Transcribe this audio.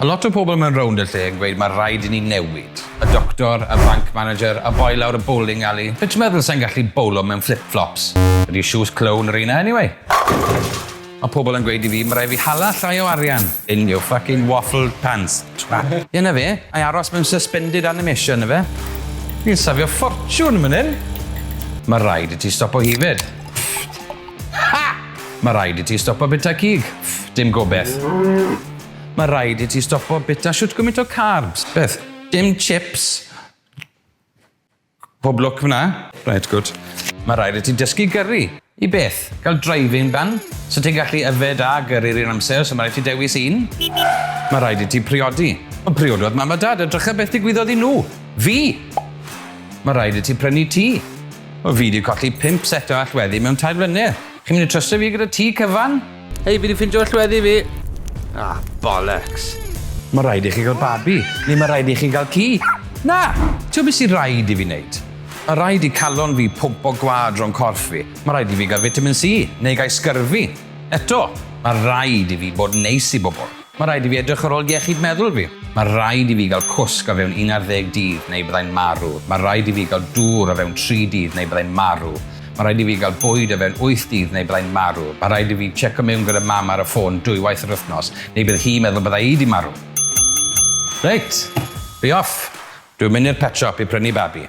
A lot o pobl mewn rownd y lle yn gweud mae rhaid i ni newid. Y doctor, y bank manager, y boi lawr y bowling alley. Be ti'n meddwl, sai'n gallu bowlo mewn flip-flops? Ydy shoes clown yr un a anyway? Mae pobl yn gweud i fi, mae rhaid fi hala llai o arian in your fucking waffle pants, twat. Ie 'na fe, ai aros mewn suspended animation 'na fe? Fi'n safio ffortiwn yn fan 'yn! Mae rhaid i ti stopo yfed. Ha! Mae rhaid i ti stopo bita cig. Dim gobeth. Mae rhaid i ti stopo bita shwt gymint o carbs. Beth? Dim chips? Pob lwc f'na. Reit gwd. Mae rhaid i ti dysgu gyrru. I beth? Gael driving ban? So ti'n gallu yfed a gyrru'r un amser, so mae rhaid ti dewis un? Mae rhaid i ti priodi. Ond priododd mam a dad a drycha beth digwyddodd i nhw. Fi! Mae rhaid i ti prynu tŷ. Wel fi 'di colli pump set o allweddi mewn tair blynedd. Chi'n mynd i trystio fi gyda tŷ cyfan? Hei, fi wedi ffindio llweddi fi! Ah, bollocks. Mae rhaid i chi gael babi, neu mae rhaid i chi gael ci. Na! Ti'n beth sy'n rhaid i fi wneud? Mae rhaid i calon fi pwmpo gwad rhwng corff fi. Mae rhaid i fi gael vitamin C, neu gael sgyrfi. Eto, mae rhaid i fi bod yn neis i bobl. Mae rhaid i fi edrych ar ôl iechyd meddwl fi. Mae rhaid i fi gael cwsg o fewn un ar ddeg dydd neu byddai'n marw. Mae rhaid i fi gael dŵr o fewn tri dydd neu byddai'n marw. Mae rhaid i fi gael bwyd o fewn wyth dydd neu byddai'n marw. Mae rhaid i fi tseco mewn gyda mam ar y ffôn dwywaith yr wythnos neu bydd hi'n meddwl bydda i 'di marw. Reit, fi off! Dwi'n mynd i'r pet shop i prynu babi.